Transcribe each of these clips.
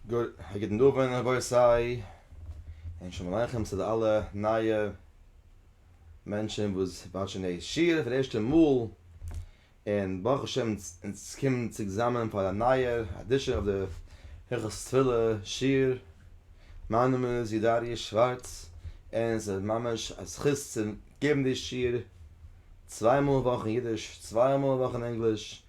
גוט א גוטן דאווענען רבותי און שלום עליכם צו די אלע נייע מענטשען וואס וואטשען די שיעור פאר די ערשטע מאל און ברוך השם אונז קומען צוזאמען פאר א נייער אדישען אויף די הלכות תפילה שיעור, מיין נאמען איז יודאריעש שווארץ און עס איז ממש א זכות צו געבן די שיעור צוויי מאל א וואך אין אידיש צוויי מאל א וואך אין ענגליש.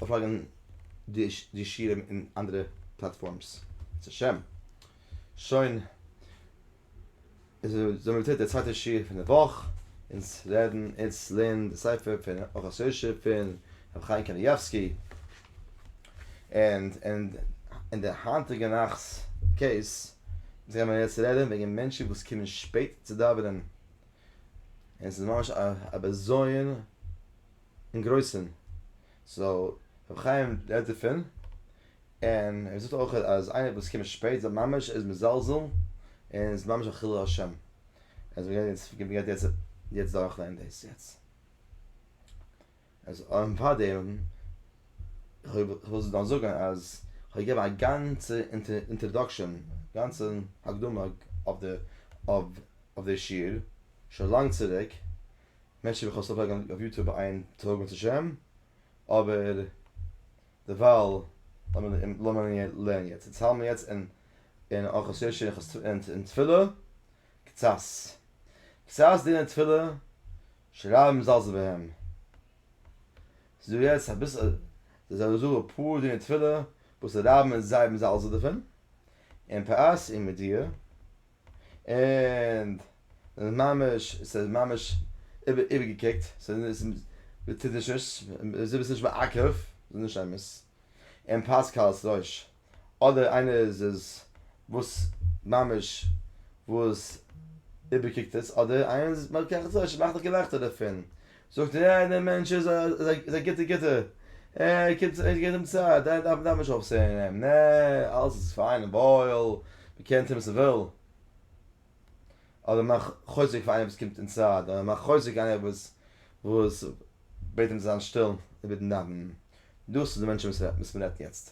אויפלייגן די שירעם אין אנדערע פלאטפארמס בעזרת השם. שוין זעמיר צוריק די צווייטע שיעור פון די וואך, אונז רעדן אונז לערנען די ספר פון אורות יושר פון רבי חיים קנייבסקי, און אין די היינטיגע נאכט'ס קעיס גיימיר יעצט רעדן וועגן מענטשן וואס קומען שפעט צו דאווענען, און עס איז ממש א בזיון. אין גרויסן סאו ר' חיים רעדט דערפון און ער זאגט אויך אז איינער וואס קומט שפעט זיי ממש איז מזלזל און איז ממש א חילול השם אז מ'גייט יעצט מ'גייט יעצט יעצט דורך לערנען דאס יעצט אז און פארדעם כ'וועל דאן זאגן אז כ'האב געגעבן א גאנצע אינטראדאקשען גאנצע הקדמה אויף די אויף די שיעור שוין לאנג צוריק. מענטשן וועלכע האבן סובסקרייבט אויף יוטוב א איין טאג בעזהשי ת, אבער דערווייל לערנען יעצט, אונז האלמען יעצט אין אין ארחות יושע און תפילה קצת קצת דין און תפילה שרייב מזלזל בהם, ס'איז דא יעצט אביסל זיי זאגן זאגן אפאר דיני תפילה וואס די רבי איז זייער מזלזל דערפון, אין פרס אין מידיע. און ממש ס'איז ממש איבערגעקוקט ס'איז טודישערס זי ביסט נישט מעכב ס'איז נישט אמת און פאסקאל'ס רויש אדער איינער איז איז וואס ממש וואס איבערקוקט עס אדער איינער איז מעכב ס'איז נישט אמת מאך דיך געלעכטער דערפון זאגט ער אה דער מענטש איז איז א גוטע גוטע ער קומט זיך ער געט אים צייט ער דארף דארף מען נישט אויפסען אים נע אלעס איז פיין און וואויל מען קען טון וואס מען וויל אדער מאך חוזק פאר איינער וואס קומט אינסייד אדער מאך חוזק איינער וואס וואס בעט אים זיין שטיל אינמיטן דאווענען דאס איז די מענטשן וואס מען רעדט יעצט.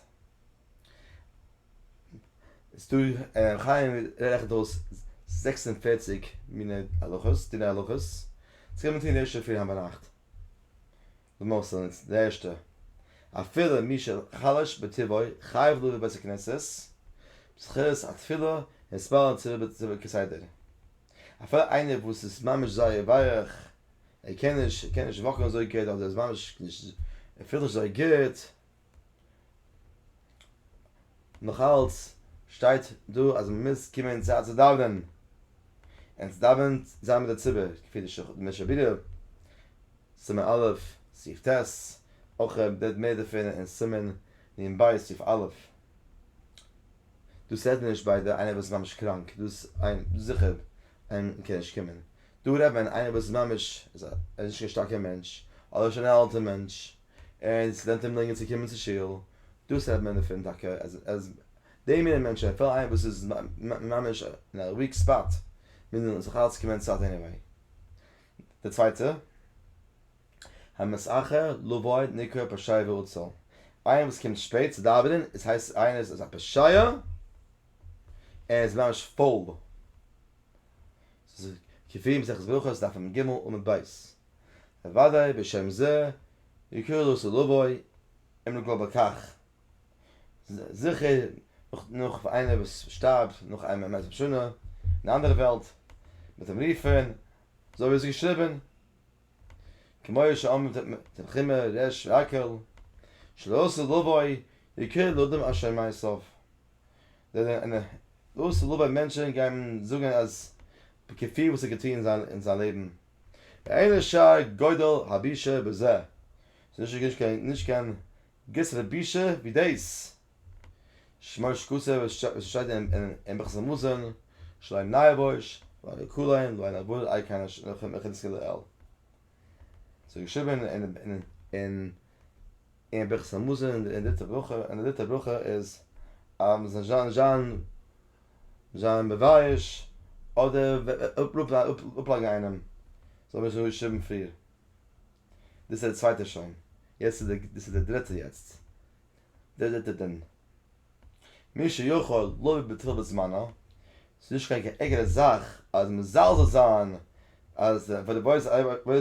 חיים רעכנט אויס זעקס און פֿערציק מיני הלכות, דיני הלכות, צו קען מען טון ערשט אינפרי היינט ביינאכט. למעשה איז די ערשטע, אפילו מי שחלש בטבעו חייב לבוא לבית הכנסת בשכירות התפילה און התפלל צוריבער כסדר. אפילו איינער וואס איז ממש זייער ווייעך, ער קען נישט, ער קען נישט וואקן אזוי גוט, אדער ער איז ממש נישט, ער פילט נישט אזוי גוט, נאכאלץ שטייט דא אז מען מוז קומען צו א צו דאווענען און צו דאווענען זיין מיט די ציבור כפי די משך הבירה, סימן א', סעיף ט', אויך ער רעדט מער דערפון אין סימן נ ב סעיף א'. דאס רעדט מען נישט ביי די איינער וואס איז ממש קראנק, דאס איין זיכער איין קען נישט קומען, דא רעדט מען איינער וואס איז ממש, ער איז נישט קיין שטארקער מענטש, אדער שוין א אלטער מענטש. און סטודענטן אים דרינגען צו קומען צו שול, דאס רעדט מען דערפון טאקע אז אז די מינע מענטשן אפילו איינער וואס איז ממש אין א וויק ספאט מוז מען זיך אלץ קומען צייט עניוועי. די צווייטע המס אחר לבוא נקרא פשעי ועצל, איינער וואס קומט שפעט צו דאווענען איז הייסט איינער איז א פושע ער איז ממש פויל. ס'איז כפי מסכת ברכות דף מ ג עמוד ב'. אוודאי בשם זה יקרא לו סלובוי אם נגלה בכך. זיכער נאך פאר איינער וואס שטארבט נאך איין מאה ועשרים שנה אין א אנדערע וועלט מען זאל אים רופען אזוי ווי עס איז געשריבען כמו שאמר תנחומא ר' יעקל שלא סלובוי יקרא לאדם אשר מעשיו. זענען דאס איז רובא מענטשען גייען זאגען אז כפי וואס ער האט געטוהן אין זיין לעבן אין שער גודל הבישה בזה ס'איז נישט קיין גרעסערע בושה ווי דאס שמו שקצה וואס שטייט אין ברכת המזון שלא עיני יבוש ולא עיני כולאים ולא עיני בורר איי קאנעש נאכעם איך גינסקען לעיל ס'איז געשריבען אין און ביכ ס המזון און די דריטע ברכה, און די דריטע ברכה איז אז מען זאל זיין זיין מבייש אדער אפלאגן איינעם זאל מען נישט שריבן פריער, דאס איז די צווייטע שוין, יעצט איז דאס איז די דריטע יעצט, די דריטע דין, מי שיכול לא יבטל בזמנו, ס'איז נישט קיין קיין ערגערע זאך אז מזלזל זיין אז פאר די וואויס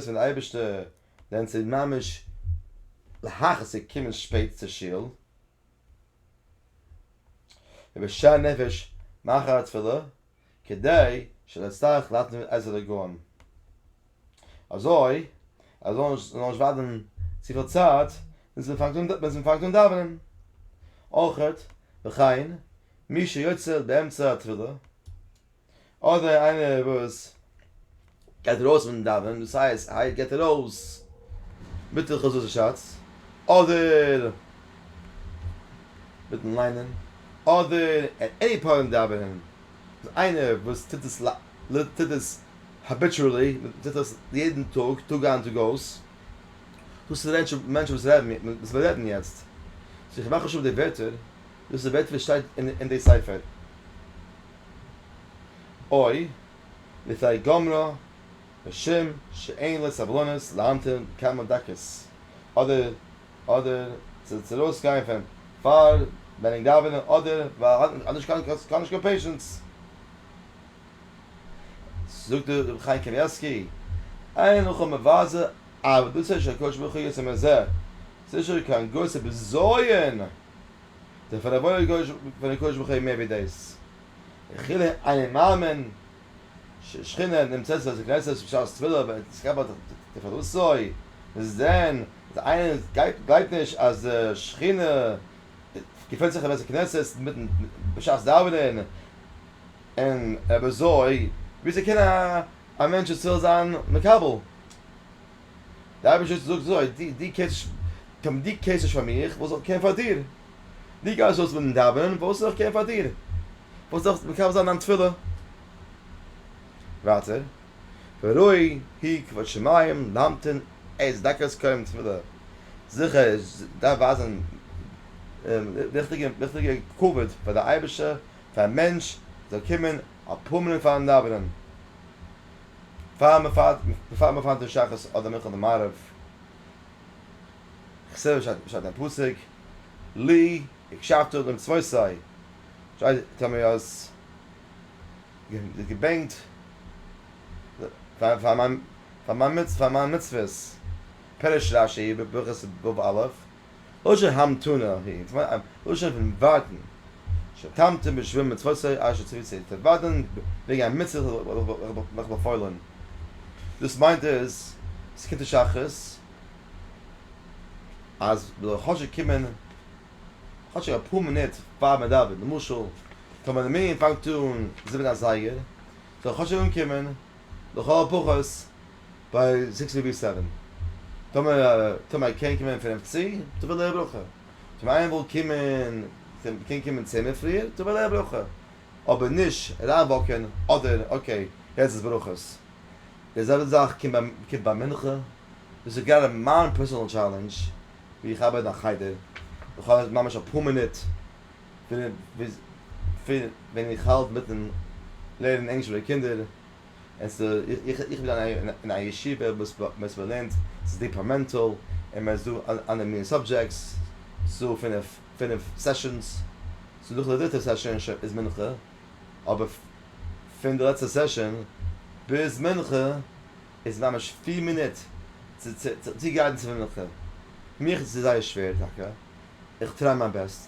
פון די אייבערשטער ווען ס'איז ממש להכעיס קומען שפעט צו שול, איבער שאר נפש מאחר התפילה, כדי שלא אצטרך להתנות את עזר הגאון, אזוי אז זאל נישט זאל נישט ווארטן צופיל צייט ביז מ'פאנגט אן דאווענען, אויך וכן מי שיוצא באמצע התפילה. אדער איינער וואס גייט ארויס פון דאווענען דאס הייסט היי גייט ער אויס מיט הלכות וואס ער שאצט אדער מיטן ליינען אדער עט עני פוינט דאווענען איז איינער וואס טוט עס טוט עס האביטשועלי מען טוט עס יעדן טאג טאג איין טאג אויס דאס איז די מענטשן וואס רעדן וואס מיר רעדן יעצט סאו איך מאך נישט אפ די ווערטער. דאס איז בעצם וואס שטייט אין די ספר. אוי, לפי גמרא, משום שאין לו סבלנות להמתין כמה דקות, אדער אדער צו ארויס גיין פון פאר מענינג דאווענען, אדער ווייל ער האט נישט קיין ער האט נישט קיין פעישענס. זאגט דער רבי חיים קנייבסקי, אין לך מבזה עבדותו של הקדוש ברוך הוא יצא מזה, ס'איז נישט דא קיין גרויסע בזיון. דערפאר רבונו קדוש פון הקדוש ברוך הוא איז מער ווי דאס. וכולי אני מאמין שהשכינה נמצאת בבית הכנסת בשעת תפילה ואת מקבלת את תפלתו, מ'זעט דען אז איינער גלייבט נישט אז די שכינה געפונט זיך אין בית הכנסת מיטן בשעת דאווענען און אויב אזוי וויאזוי קען א מענטש ישראל זיין מקבל? די אייבערשטער זאגט אזוי, דו דו קענסט טון, דו קערסט נישט פאר מיך, וואס זאל איך קערן פאר דיר? דו גייסט אויס מיטן דאווענען, וואס זאל איך קערן פאר דיר? וואס זאל איך מקיים זיין דיין תפילה? ווייטער, וראי היא כבוד שמים להמתין עד דקת קיום תפילה, זיכער עס דארף ווייזן ריכטיגע ריכטיגע כבוד פאר די אייבערשטער, פאר א מענטש זאל קומען אפאר מינוט פארן דאווענען. פאר מ'פארט מ'פארט צו שחרית אדער מנחה אדער מעריב, כסדר שטייט אין פסוק, לי הקשבתו למצוותיי, שטייט טאמער איר האט געבענקט פאר מיין מצוות, פירש רשי בברכות בב א, לשון המתנה היא, און ס'מיינט א לשון פון ווארטן, שתמתין בשביל מצותי אשר ציוויתני, צו ווארטן וועגן א מצוה וואס איך באפוילן, דאס מיינט איז, ס'קומט אין שחרית, אז מ'זאל כאטשיג קומען, כאטשיג אפאר מינוט פאר מ'דאווענט, למשל, טאמער די מנין פאנגט אן זיבן אזייגער, זאל איך כאטשיג אנקומען, לכל הפחות, ביי סיקס ווי ביי סעווען. טאמער טאמער א קען קומען פינף צו, טאמער וויל ער א ברכה. טאמער איינער וויל קומען קען קומען צען מינוט פריער, טאמער וויל ער א ברכה. אבער נישט אריינוואקען אדער אקעי יעצט איז ברכות. די זעלבע זאך קומט ביי קומט ביי מנחה. דאס איז גראדע מיין פערסענאל טשעלענדזש ווי איך ארבייט אין א חדר. איך האב ממש אפאר מינוט ווען איך האלט מיטן לערנען ענגליש מיט די קינדער. איך איך בין אין א ישיבה וואס וואס מען לערנט ס'איז דיפארמענטעל און מען איז דא אלע מיני סאבדזשעקטס ס'איז דא פינעף פינעף סעשאנס סאו נאך די דריטע סעשאן איז מנחה אבער פון די לעצטע סעשאן ביז מנחה איז ממש פֿיר מינוט צו צו גיידן צו מנחה מיך איז זייער שווער טאקע איך טריי מיין בעסט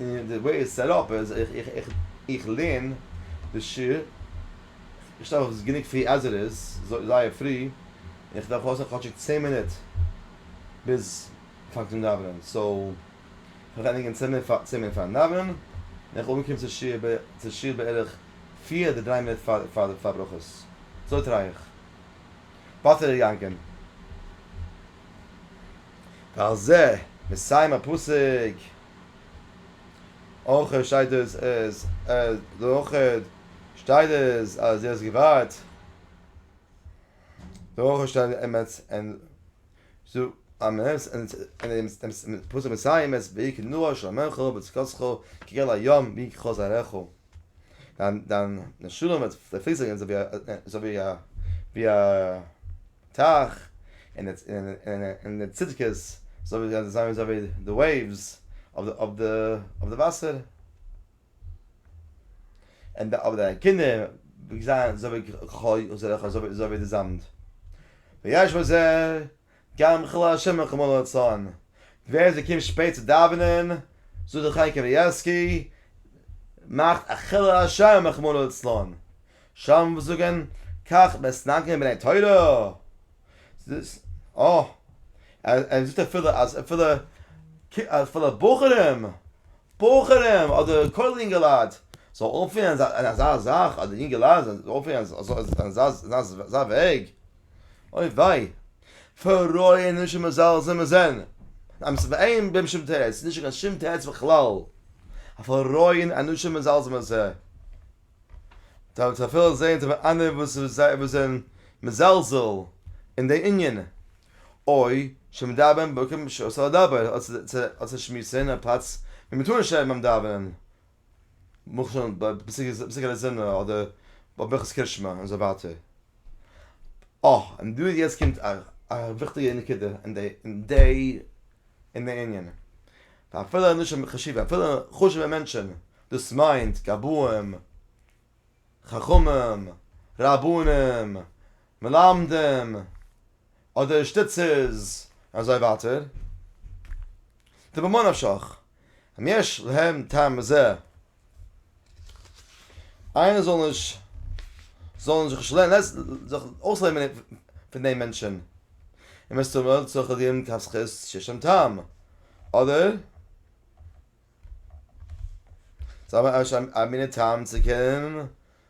און די וועי איטס סעט אפ איז איך לערן די שיעור, איך שטאר אויף גענוג פרי עז איט איז, זייער פרי, און איך דארף אויסהאלטן כאטשיג צען מינוט ביז פאנג צו דאווענען, סאו איך וועל ענדיגן צען מינוט פארן דאווענען, און איך אנקום צו שיעור בערך פיר אדער דריי מינוט פאר ברכות, אזוי טריי איך, באטע ר' יענק'ן. ועל זה מסיים הפסוק. אויך שטייט דאס אז אויך שטייט דאס אז דו האסט געווארט אויך שטייט אין אמת אין זו אמת אין דעם פסוק מסיים עס ווי כנוע של עמך בצקצך כגל הים ווי כחזרךו דיין דיין נשמה וועט פליסן אזוי ווי א ווי א ווי א טייך, און די צדקות זענען אזוי ווי די וועיווס אויף די וואסער, און דיינע קינדער זענען אזוי ווי כחול, אזוי ווי די זאמד. ויש בזה גם חילול השם און חמול רצון, ווער עס קומט שפעט צו דאווענען, זאגט דער חי קאניעווסקי, מאכט א חילול השם און חמול רצון, שם וואס זאגען כך מסנגרים בני תורה זיס אה ער זאגט אפילו אז אפילו אפילו בחורים בחורים אדער כולל יונגעלייט זאל אנפינען אין אזא זאך אדער יונגעלייט זאל אנפינען אין אזא וועג אוי וויי פרויען נישט מזלזל מיט זען עמעס ואין בהם שום תירוץ נישט קיין שום תירוץ בכלל א פרויען אנוש מזלזל מיט זיי. דארף מען אפילו זעהן צו האבן אנדערע וואס זענען מזלזל אין די ענין, אוי שמדברים בקום שאסור לדבר, אדער צו שמועסן א פלאץ ווי מ'טאר נישט רעדן ביים דאווענען, למשל בפסקי דזימנא אדער ביי ברכות קרישמע און אזוי ווייטער. אה, און דא יעצט קומט א וויכטיגע נקודה אין די אין די ענינים. ואפילו אנשים חשובים, אפילו חשוב'ע מענטשען, דאס מיינט גבאים, חכמים, רבנים, מלמדים, אדער שטיצערס, אזוי ווייטער, טאר ממה נפשך, אם יש להם טעם בזה איינער זאל נישט זאל נישט זיך נישט לעס זיך אויסלערנען פון דעם מענטשען. און מסתמא צורך ער דיר מכף זכות שיש שם טעם. אדער זיי האבן א מינע טעם צו קענען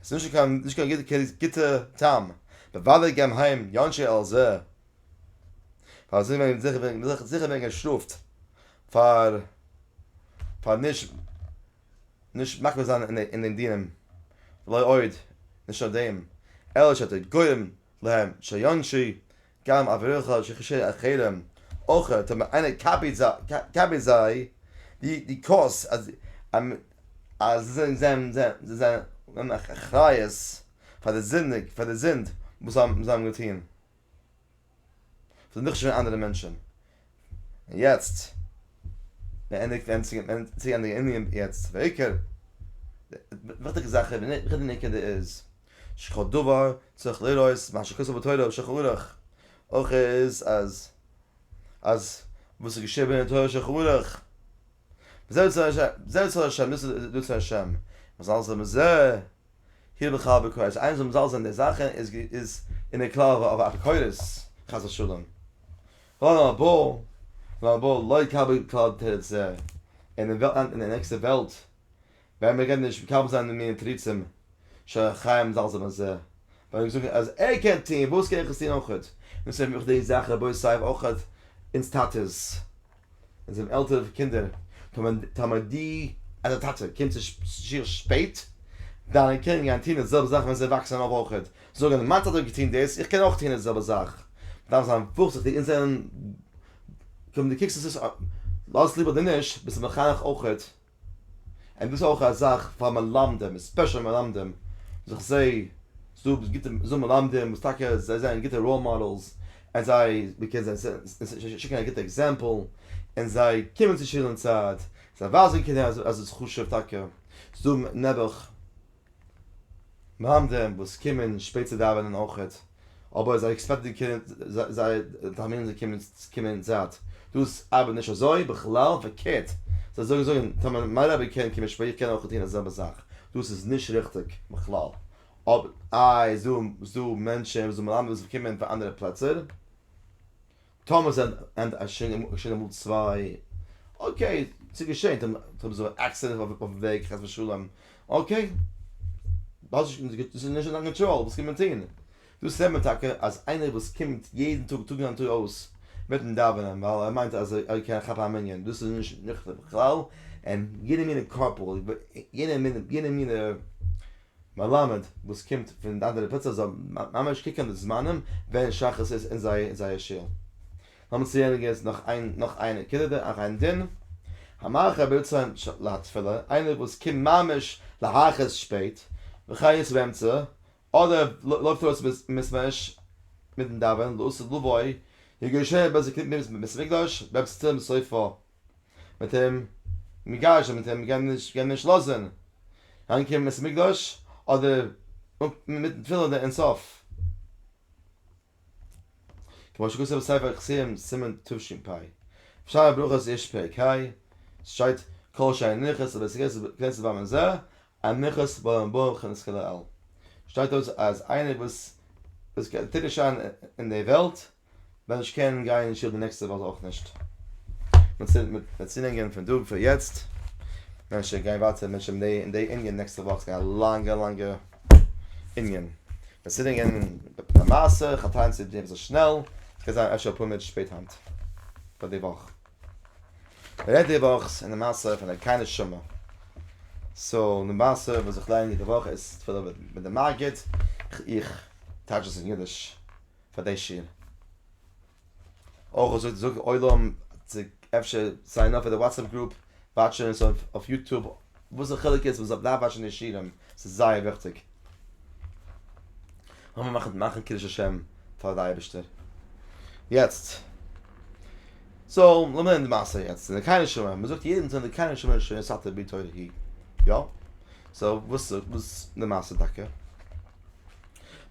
עס איז נישט קיין גוטע טעם, בוודאי גייען היים די אנשי על זה, ווייל אזוי וועט מען זיכער זיכער ווערן געשטראפט פאר פאר נישט נישט מקפיד זיין אין די דינים, לא עוד, נישט נאר דעם, אלא שאתה גורם להם שיענשו גם אברכך שכשר אחרים אויך אויב איינער קאפיט זיי די קורס אז זיי זענען אחריות פאר די זינדיג פאר די זינד וואס זיי האבן געטון זיי זענען נישט ווי אנדערע מענטשן און יעצט געענדיגט ווען צו גיין די ענין יעצט צו די עיקר, די וויכטיגע זאך איז ווען איך בין אין נקודה איז שכל דבר צריך לראות מה שכתוב בתורה ושולחן ערוך, אויך איז אז אז וואס איז געשריבען אין תורה ושולחן ערוך, וזה יצר ה', זה יצר ה', דאס איז דאס פון השם, מזאל זיין בזה, הי' בכל בכל, אז איינער זאל מזלזל אין די זאכן איז איז אין די קללה אויף אפיקורס, חס ושלום. לא נבא, לא נבא, לא יקבל כלל תירץ זה, און אין די נעקסטע וועלט ווען מען קען נישט מקבל זיין די מיני תירוצים שחיים זלזל בזה ווען מען האט געזאגט אז ער קען טוהן וואס קען איך עס טוהן אויכעט און ס'ווענדט מיך די זאך רבותי סייוו אויכעט אונז טאטעס אונז זענען עלטערע קינדער טאמער די אז די טאטע קומט צו שיעור שפעט דיינע קינדער גייען טוהן די זעלבע זאך ווען זיי וואקסען אויף אויכעט זאגען מיין טאטע האט געטוהן דאס איך קען אויך טוהן די זעלבע זאך מ'דארף זיין ווארזיכטיג אונז זענען כ'בין די קוקסט עס לאז עס ליב אדער נישט ביסט מחנך אויכעט. און דאס איז אויך א זאך פאר מלמדים, עספעשעלי מלמדים, זיך זיי, ס'דא גוטע ס'דא מלמדים וואס טאקע זיי זענען גוטע ראול מאדעלס, און זיי, מען קען זיי זיי שיקן א גוטע עקזעמפל, און זיי קומען צו שול אין צייט, זיי ווייזן קינדער אז עס איז חשוב טאקע, ס'דא נעבעך. מהמדים וואס קומען שפעט צו דאווענען אויכעט, אבער זיי עקספעקטן די קינד, זיי טערמינען די קינד צו קומען אין צייט, דאס ארבעט נישט אזוי, בכלל פארקערט, זיי זאגן זאגן, טאמער מיין רבי קען קומען שפעט, איך קען אויכעט טון די זעלבע זאך, דאס איז נישט ריכטיג בכלל, אבער איי איז דא מענטשען וואס זאל מלמד וואס קומען פון אנדערע פלעצער. טאמער זענען עס שוין אמאל צוויי, אקעי, ס'איז געשען, טאמער איז דא עקסידענט אויפן וועג חס ושלום, אקעי, דאס איז נישט אין דיין קאנטראל, וואס קען מען טון? דאס זעט מען טאקע אז איינער וואס קומט יעדן טאג טאג איין טאג אויס מיטן דאווענען ווייל ער מיינט אז ער קען כאפן א מנין, דאס איז נישט ניחא בכלל, און יעדע מינע קאפל, יעדע מינע מלמד וואס קומט פון די אנדערע פלעצער זאל ממש קוקען די זמנים ווען שחרית איז אין זייער שול. לאמיר צולייגען יעצט נאך איין נאך איין נקודה דער אחר אין דין המאחר ברצון להתפלל איינער וואס קומט ממש להכעיס שפעט וכי' איז באמצע אדער לויפט ארויס מסמיש מיטן דאווענען לעשות לבוי יגרשהו בית הכנסת מיט בית המקדש ביים צום סופה מיט אים מגרשן מיט אים גייען נישט גייען נישט לאזן אריין קומען בית המקדש אדער מיטן תפילין אדער אין סוף כמו שכתוב בספר נכסים סימן תשפ שער הברכות יש פרק ה שטייט כל שאר נכס און בית הכנסת ביים און זה א נכס בעל המבוא וכן נזכה לעיל שטייט דארט אז איינער וואס וואס טוט נישט שיין אין די וועלט ווען איך קען גיין אין שול די נעקסטע וואך אויך נישט. מ'וועט צולענגען פון דא פון יעצט, ווען ש גיין ווייטער מיט ש די אין די ענין נעקסטע וואך ס'גייט א לאנגע לאנגע ענין. וועט צולענגען א מעשה, כ'טראכט צו דיר אביסל שנעל, ס'גייט זיין אפשר אפאר מינוט שפעט היינט, פאר די וואך. מ'רעדט די וואך אין די מעשה פון די קיין נשמה. סאו די מעשה וואס איך לערן יעדע וואך איז תפלה מיט די מגיד, איך טייטש עס אין אידיש. פאר די שיעור. אויך זאג זאג עולם צו אפשר סיין אפ פאר די וואטסעפפ גרופ, וואטשען עס אויף יוטוב, וואס די חילוק איז, מען זאל בלייבן וואטשען די שיעורים, ס'איז זייער וויכטיג. לאמיר מאכן מאכן קידוש השם פאר די אייבערשטער יעצט. סאו לאמיר נעמען די מעשה יעצט, אין די קרני שומרון, מען זאגט יעדן טאג אין די קרני שומרון שיעור סאטע בי תורה הי, יא? סאו וואס איז די מעשה טאקע?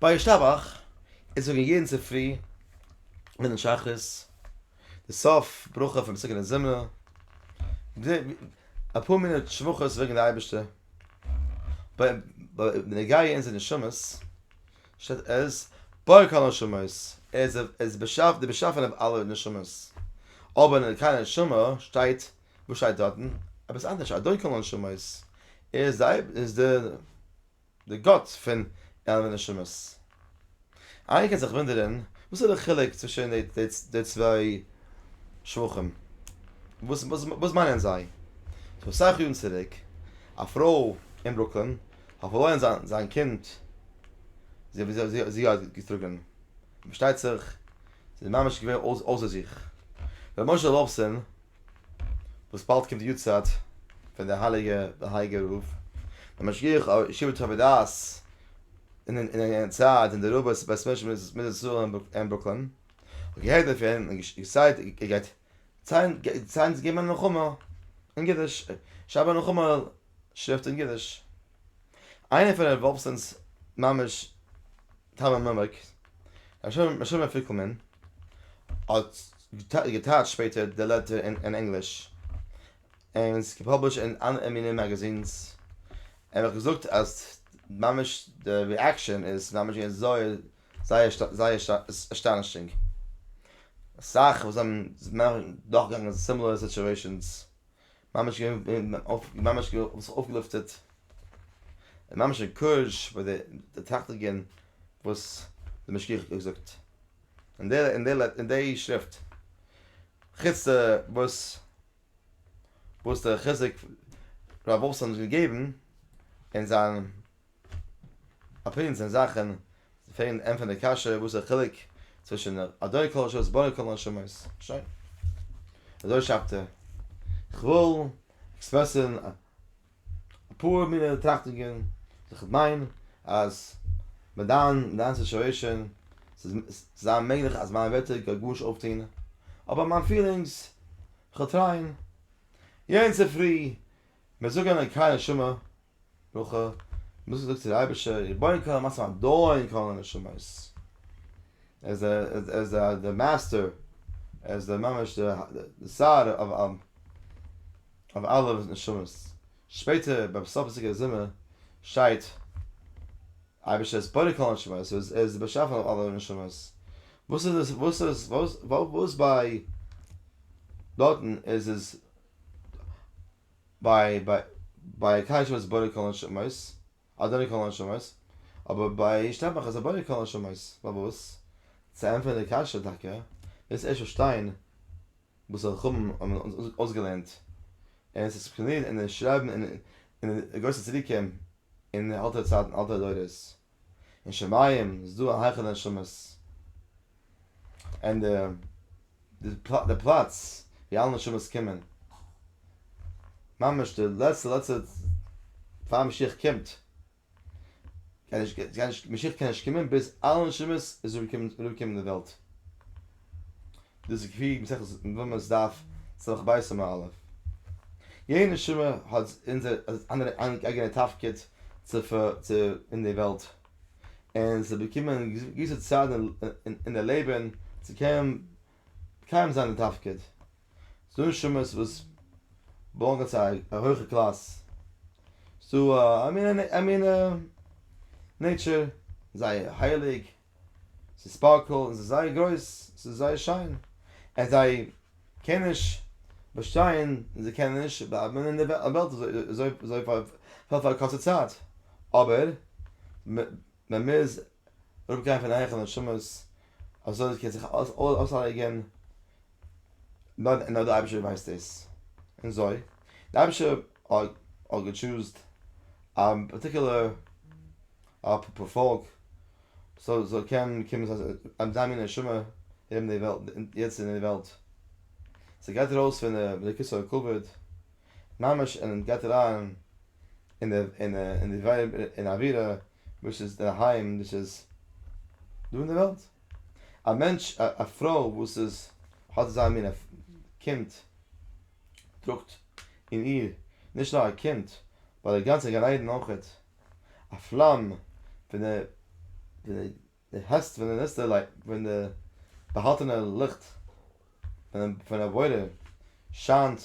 ביי ישתבח אונז זאגן יעדן צופרי מנין שחרית די סוף ברכה פון פסוקי דזמרה, אפאר מינוט שבחות וועגן די אייבערשטער, בנוגע אונזערע נשמות שטייט עז בורא כל הנשמות, ער איז דער באשעפער, דער באשאפענער פון אלע נשמות, אבער אין ערכי הנשמה שטייט, וואס שטייט דארטן? עפעס אנדערש, אדון כל הנשמות, ער איז דער. די גאטס פון עלמע נשמות. איינער קען זיך וואונדערען וואס איז די חילוק צווישען די צוויי שבחים? וואס מיינען זיי? פאר אסאך יארן צוריק א פרוי אין ברוקלין האט פארלוירען זיין קינד זי האט געטראגען פארשטייט זיך זי איז ממש געווען אויסער זיך ר' משה וואלפסאן. וואס באלד קומט די יארצייט פון די הייליגע די הייגע רב דער משגיח אויף ישיבת טובי דעת אין אין אין יענע צייט אין די רב'ס בית מדרש מיט די זאל אין ברוקלין האט געהערט דערפון און געסיי ער גייט ציין ציין געבן א נחמה אין אידיש שרייבן א נחמה שריפט אין אידיש איינער פון רב וואלפסאן'ס ממש טעמע מעמק משומר פיקלמאן האט געטייטשט שפעטער די לעטער אין ענגליש און עס געפאבלישט אין אלע מיני מאגאזינס און איך געזאגט אז ממש די ריעקשאן איז ממש געווען זייער זייער זייער אסטאנישינג אסאך וואס זענען נאכגעגאנגען סימילער סיטועשאנס ממש געווען אויף ממש געווען אויף זיך אויפגעלופטערט און ממש א קורזש ביי די די טראכטיגען וואס די משגיח האט געזאגט אין די אין די אין די שריפט חוץ די וואס וואס די חיזוק רב וואלפסאן האט געגעבן אין זיין א פרינץ אין זאכן פארן ענטפערן די קשיא וואס איז די חילוק צווישן אדוני כל הנשמות בורא כל הנשמות שוין אזוי שרייבט ער כ'וויל עקספרעסן אפאר מינע טראכטונגען וואס איך מיין אז מיט דיין מיט דיין סיטואעישאן ס'איז ס'זיין מעגליך אז מיינע ווערטער גייט גארנישט אויפטון אבער מיין פילינגס כ'וועל טרייען יענץ צופרי מ'איז געגאנגען קיין הנשמה ברכה, מוז זאגט צו די אייבערשטער, ריבונו כל עלמות ואדון כל הנשמות, ער איז ער איז די מאסטער, ער איז די ממש די שר אויף אלע נשמות, שפעטער ביים סוף פון סוכות זומער שטייט, אייבערשטער איז בורא כל הנשמות, ער איז די באשעפער אויף אלע נשמות, וואס איז עס וואס איז וואס ביי דארטן איז עס ביי ביי ביי א קדש וואס בורא כל הנשמות, אדוני כל הנשמות, אבער ביי איש טעמך איז ער בורא כל הנשמות, פארוואס? צו ענטפערן די קשיא טאקע מוזט ערשט פארשטיין וואס די חכמים האבן אויסגעלערנט, און עס איז עקספלאנירט אין די שרייבן אין די גרויסע צדיקים אין אלטע צייטן אלטע דורות. אין שמים איז דא א היכל הנשמות אין די די פלאץ ווי אלע נשמות קומען ממש די לעצטע לעצטע פאר משיח קומט משיח קען נישט קומען ביז אלע נשמות איז אנגעקומען אין די וועלט. דאס איז כפי מסכת מב מ דף סח ב סימן א'. יעדע נשמה האט אונזער אנדערע אייגענע תפקיד צו צו אין די וועלט. און זיי באקומען געוויסע צייט אין די לעבען צו קענען מקיים זיין די תפקיד. ס'דא נשמות וואס באלאנגען צו א הויכע קלאס. ס'דא א מין א מין נעטשער זייער הייליג. ס'איז ספארקל און ס'איז זייער גרויס, ס'איז זייער שיין, און זיי קענען נישט באשטיין און זיי קענען נישט בלייבן אין די וועלט אזוי פאר א קורצע צייט, אבער ווען מ'איז אראפגעגאנגען פון הייכן און שמות אזוי קען זיך אלעס אויסלייגן, נאר דער אייבערשטער ווייסט דאס, און אזוי דער אייבערשטער האט געטשוזט א פארטיקולער א פ פ פאלק סאו סאו קען קומען אז אז זיין מין נשמה האבן די וועלט יעצט אין די וועלט סאו גייט ארויס פון די בדיקת הכבוד ממש און גייט אריין אין די אין אין די ווייב אין א דירה וואס איז די היים וואס איז דא אין די וועלט א מענטש א א פרוי וואס איז האט זיין מין קינד טראגט אין איר נישט נאר א קינד באט די גאנצע גן עדן אויכעט. א פלאם פון די העסט פון די ניסתר לייט פון די באהאלטענע ליכט פון א בורא שיינט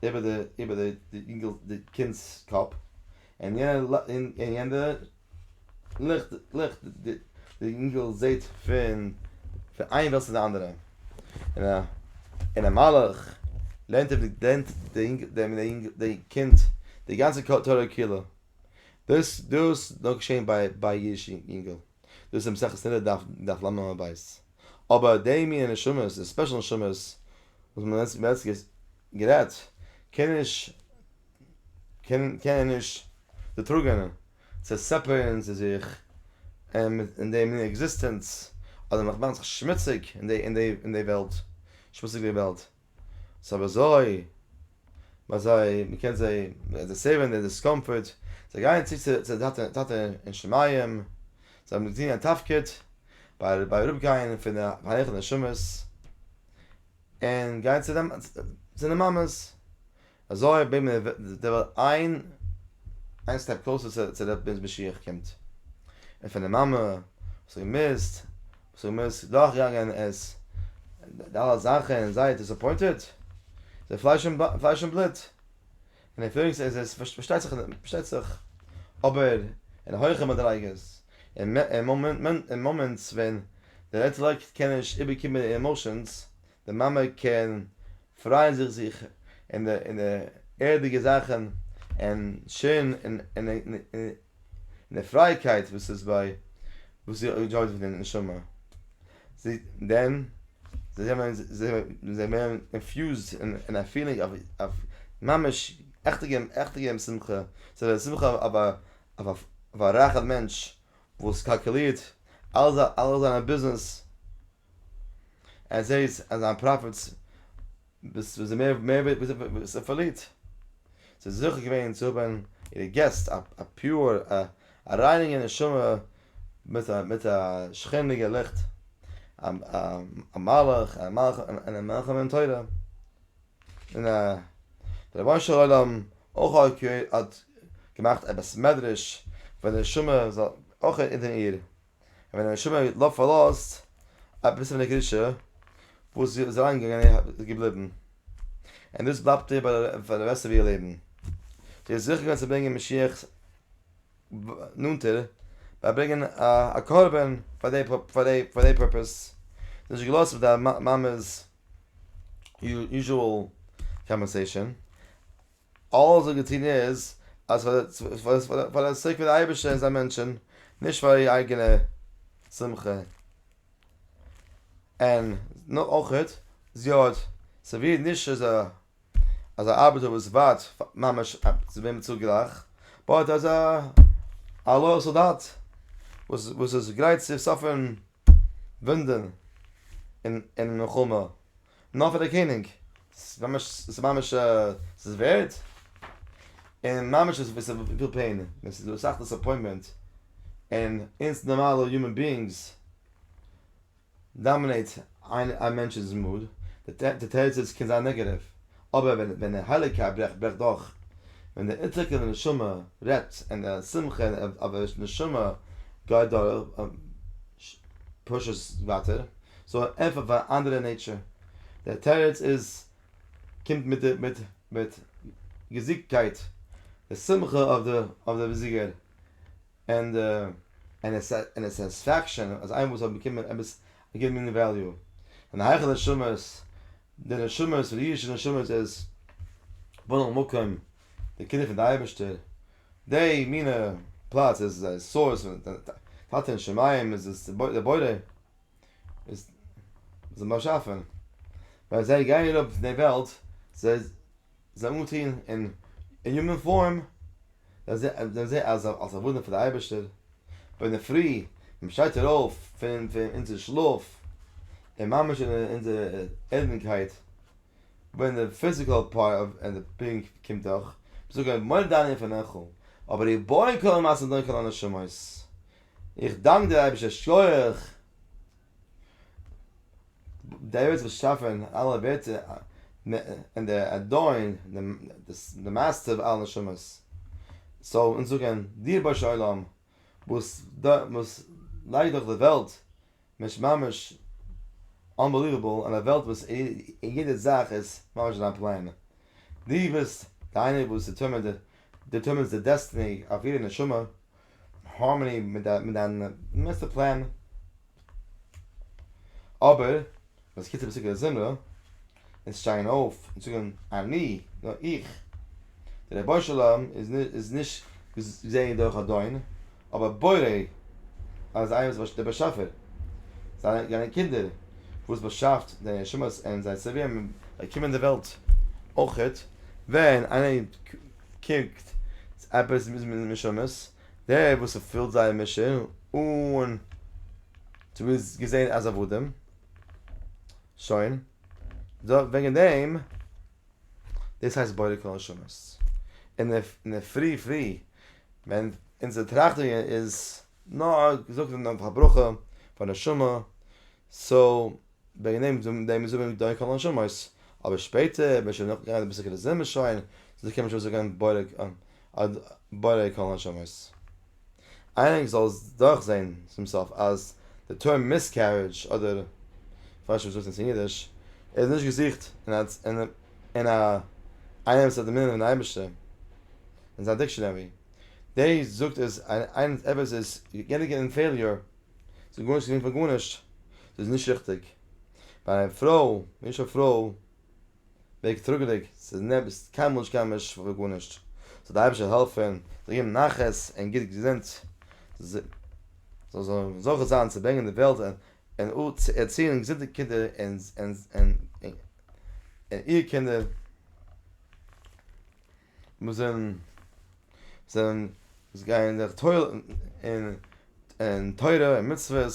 איבער די איבער די אינגעלס די קינדס קאפ און יענע ליכט ליכט די אינגעל זעהט פון פון איין וועלט צו די אנדערע און א און א מלאך לערנט אים לערנט דעם אינגעל דעם קינד די גאנצע תורה כולה. דאס דאס נאר געשען ביי ביי אידישע יונגעל, דאס איז מסכת סנהדרין דף דף למה מ ב, אבער די מינע נשמות, די ספעשל נשמות וואס מען האט מען האט גערעדט, קען נישט קען קענען נישט דערטראגען צו סעפערירן צו זיך אין די מינע עקזיסטענץ, אדער מאכט זיך שמוציג אין די אין די וועלט, שמוציג די וועלט. ס'איז אבער אזוי ביי זיי, מ'קען זיי, די סערווינג די דיסקאמפארט, זיי גייען צו צו די טאטע טאטע אין שמים, זיי האבן געטון א תפקיד ביי ביי אראפגיין פון די היכל נשמות, און גייען צו די מאמעס, אזוי האט בעימער וועט דער וועלט איין איין סטעפ קלאוסער צו צו דער פרינץ משיח קומט. און פון די מאמע וואס האט געמוזט וואס האט געמוזט דורך גאנגען עס די אלע זאכן און זייער דיסעפוינטעד זיי פלייש און פלייש און בלוט און איבריגס איז עס פארשטייט זיך פארשטייט זיך אבער אין הויכע מדריגות און און מאמענטס ווען דער אינטעלעקט קען נישט איבערקומען די עמאושענס די מאמע קען פרייען זיך זיך אין די אין די ערדיגע זאכן און שערן אין אין אין די פרייעקייט וואס איז ביי וואס זי ענדזשויט פון די נשמה זי דען זיי זענען זיי ווערן אינפיוזד אין א פילינג אוו אוו ממש עכטע געבן עכטע געבן שמחה ס'איז א שמחה אויף א אויף א רייכע מענטש וואס קאלקולירט אלע אלע זיינע ביזנעס. ער זעהט אז זיין פראפיטס איז מער מער וואס ער פארלירט. זי איז זוכה געווען צו האבן אירע געסט א א פיור א א ריינינגע נשמה מיט א מיט א שכינה'דיגע ליכט א א א מלאך א מלאך און מלאך מן תורה און א דער רבונו של עולם אויך האט געמאכט א בית מדרש פאר די נשמה זאל אויך אונטער איר און ווען די נשמה האט לופט פארלאזט א פיסעווענע קדושה וואס זי איז אריינגעגאנגען און איז געבליבן, און דאס בלייבט איר פאר די רעסט פון איר לעבן, זי איז זוכה געווען צו ברענגען משיח נאנטער ביי ברענגען א קרבן פאר די פאר די פאר די פורפעס, זי האט נישט געלאזט אויף די מאמע'ס יוזשועל קאמפענסעישאן. אלעס וואס געטון איז אז פאר די סעיק פון די אייבערשטער און זיין מענטשען נישט פאר איר אייגענע שמחה און אויכעט זי האט סערווירט נישט אזא אזא ארבעטער וואס ווארט ממש צו ווערן באצאלט גלייך באט אזא א לאיאל סאלדאט וואס וואס איז גרייט צו סאפערן וואונדען אין מלחמה נאר פאר די קעניג, ס'איז ממש ס'איז ווערד, און ממש איז ווי ס'וויל פעין, ווען ס'איז דא אסאך דיסעפוינטמענט, און אונז נארמאלע יומען ביאינגס דאמינעיט א מענטש'ס מוד, די תירוץ איז קען זיין נעגעטיוו, אבער ווען ווען דער הייליגער אברעך ברעכט דורך, ווען דער אונטערקעלע נשמה רעדט און דער שמחה אין אברעך'ס נשמה גייט דורך, פושט עס ווייטער, סאו ער ענטפערט פאר א אנדערע נעיטשער. דער תירוץ איז קומט מיט מיט מיט געזיגטקייט, די שמחה אויף די אויף די באזיגער, און די און די און די סעטיספעקשאן אז איינמאל זיי האבן באקומען עפעס א גוטע מינע וועליו, זענען הייכע נשמות די נשמות, די אידישע נשמות איז בנין המקום, די קינדער פון די אייבערשטער, די מינע פלאץ איז די סאורס פון די טאטע אין שמים איז עס די בורא איז די באשאפער, ווען זיי גייען אראפ פון די וועלט זיי. זיי אנגעטון אין יומען פארם, זענען זיי אלס עבדים פאר די אייבערשטער, און אינדערפרי ווען מען שטייט איר אויף פון אונזער שלאף, און ממש אין אונזער ערדענקייט, ווען די פיזיקעל פארט אוו די בינג קומט דורך, זאג איך מודה דאני לפניך, אבער איך בוי כל המעשים דאן כל הנשמות, איך דאנק דיר אייבערשטער שכוח. דער אייבערשטער האט געשאפען אלע ווערטער און דער אדון די מייסטער פון אלע נשמות זאל אונז זאגען דיר רבוש ע עולם וואס וואס לייגט דאך די וועלט ממש ממש אנבעליוועבל און א וועלט וואס יעדע זאך איז ממש אין דיין פלען דו ביסט די איינער וואס דיטערמינט דיטערמינטס די דעסטיני אויף יעדע נשמה. הארמאני מיט דיין מאסטער פלען, אבער וואס קיצער פסוקי הזמרה איז שטייען אויף און זאגען אני, נאר איך, דער רבונו של עולם איז נישט געזעהן דורך א דאון, אבער בורא אז איינער וואס דער באשעפער, זיינע קינדער וואס באשאפט די נשמות און זיי סערווירן זיי קומען אין די וועלט אויכעט ווען איינער קוקט עפעס מיט די נשמות, דער וואס ס'פילט זייער משא אן צו איז געזען אז עבדים, שוין, וועגן דעם, דאס הייסט בורא כל נשמות, און אין די פרי פרי ווען אונזער טראכטונג איז נאר געזאגט פאר ברכה פאר נשמה, סאו. וועגן דעם זאגן דעם זאגן מיר דאן קול נשמות, אבער שפעטער ווען שוין נאך געגאנגען די פסוק און זעמיר שוין זיכער קען מען שוין זאגן בורא קול נשמות. איינער זאל עס דורכזען צום סוף אז די טערם מיסקערידזש אדער כ'ווייס נישט וואס זאגט עס אין אידיש איז נישט געזוכט אין א איינער וואס האט דערמאנען דעם אייבערשטער אין זיין דיקשאנערי, דעי זאגט עס איינער וואס איז גענוג אין פעיליור ס'איז גארנישט געווען פאר גארנישט, ס'איז נישט ריכטיג. ביי א פרוי, איש או פרוי, ווערט טראגעדיג, ס'איז נעבעך קיינמאל נישט געווען נישט פאר גארנישט. זאל די אייבערשטער העלפן, זאל געבן נחת און גוט געזונט, זאל זיי זוכה זיין צו ברענגען אין די וועלט און ערציען געזונטע קינדער און איר קינדער. וואס זענען זענען וואס גייען זיך טויל אין אין תורה און מצוות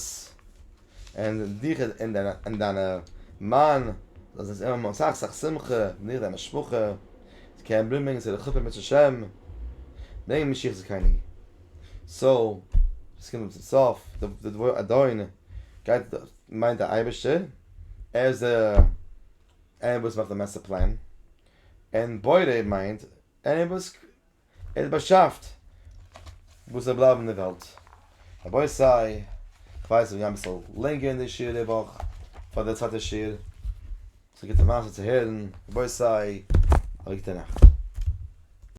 און דיך און דיינע און דיינע מאן זאלסט זיי האבן אסאך אסאך שמחה און דיך און דיין משפחה זיי קענען ברומען צו די חופה מצוה שם ברענג משיח צדקנו סאו עס קומט צום סוף די דבר אדון גייט מיינט די אייבערשטער ער איז דער ער וואס מאכט די מעסטער פלען. און בורא מיינט עני וואס ער האט באשאפט וואס זאל בלייבן אין די וועלט. רבותי איך ווייס איך גיי אביסל לענגער אין די שיעור די וואך פאר די צווייטע שיעור, ס'איז א גוטע מעשה צו הערן, רבותי א גוטע נאכט.